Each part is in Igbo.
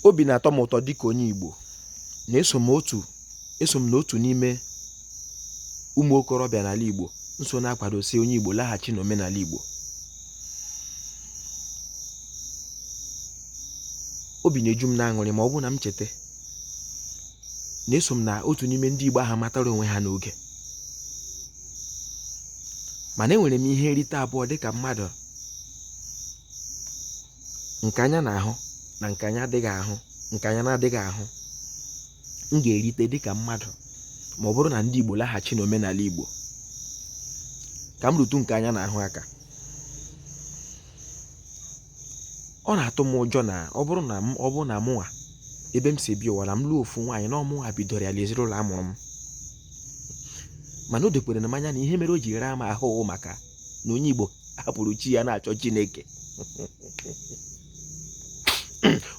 obi na-atọ m ụtọ dịka onye Igbo na eso m otu eso m n'otu n'ime ụmụ okorobịa n'ala Igbo nso na-akwado sị onye Igbo laghachi n'omenala Igbo obi na-eju m n'aṅụrị ma ọ bụrụ na m cheta na eso m na otu n'ime ndị Igbo ahụ matara onwe ha n'oge mana enwere m ihe nrite abụọ dịka mmadụ nke anya na-ahụ na nke anya adịghị ahụ nke anya na-adịghị ahụ m ga-erite dịka mmadụ ma ọ bụrụ na ndị Igbo laghachi n'omenala Igbo ka m rụtụ nke anya na-ahụ aka ọ na-atụ m ụjọ na ọ bụrụ na m ọ bụrụ na mụnwa ebe m si bịa ụwa na m lụọ ofu nwaanyị na ọ mụnwa bidoro ya na ezinụlọ a mụrụ m mana o dokwurula m anya na ihe mere o ji raa m ahụ wụ maka na onye Igbo hapụrụ chi ya na-achọ Chineke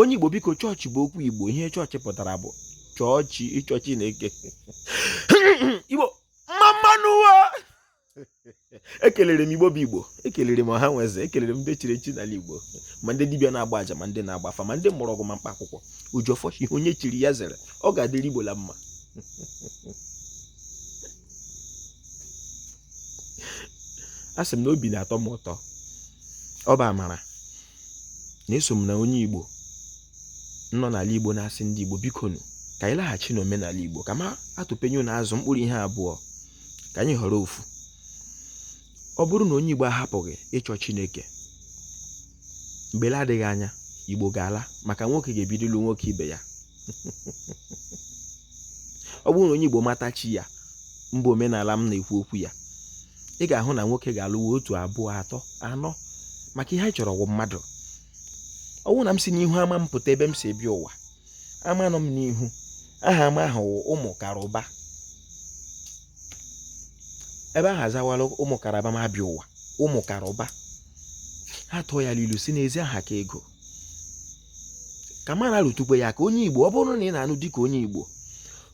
onye Igbo biko chọọchị bụ okwu Igbo ihe chọọchị pụtara bụ chọọ chi ịchọ Chineke Igbo mma mma nụ wo ekelere m Igbo bụ Igbo ekelere m ọha na eze ekelere m ndị chiri echi n'ala Igbo ma ndị dibịa na-agba aja ma ndị na-agba afa ma ndị mụrụ ọgwụ ma mkpa akwụkwọ Ojiọfọ sị ihe onye chiri ya zere ọ ga-adịrị Igbo la mma asị m na obi na-atọ m ụtọ ọ bụ amara na eso m na onye igbo nọ n'ala igbo na-asị ndị igbo biko nụ ka anyị laghachi n'omenala igbo kama atụpenye ụnụ azụ mkpụrụ ihe abụọ ka anyị họrọ ofu ọ bụrụ na onye igbo ahapụghị ịchọ chineke mgbe na-adịghị anya igbo ga-ala maka nwoke ga-ebido ịlụ nwoke ibe ya ọ bụrụ na onye igbo mata chi ya mebe omenala m na-ekwu okwu ya ị ga-ahụ na nwoke ga-alụwa otu abụọ atọ anọ maka ihe anyị chọrọ wụ mmadụ ọ bụrụ na m si n'ihu ama m pụta ebe m si bịa ụwa ama nọ m n'ihu aha ama ahụ ụmụ karụba ebe ahụ azawala ụmụ karaba m abịa ụwa ụmụ karụba ha tụọ ya n'ilu sị na ezi aha ka ego ka m na-arụtụkwe ya aka onye igbo ọ bụrụ na ị na-anụ dịka onye igbo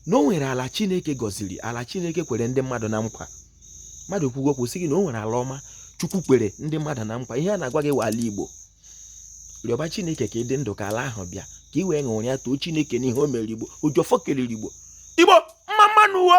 na o nwere ala chineke gọziri ala chineke kwere ndị mmadụ na nkwa mmadụ kwugo okwu sị gị na o nwere ala ọma chukwu kwere ndị mmadụ na nkwa ihe a na-agwa gị wụ ala igbo rịọba chineke ka ị dị ndụ ka ala ahụ bịa ka ị wee ṅụrịa too chineke n'ihe o mere igbo ojiọfọ kelere igbo igbo mma mma nụ wo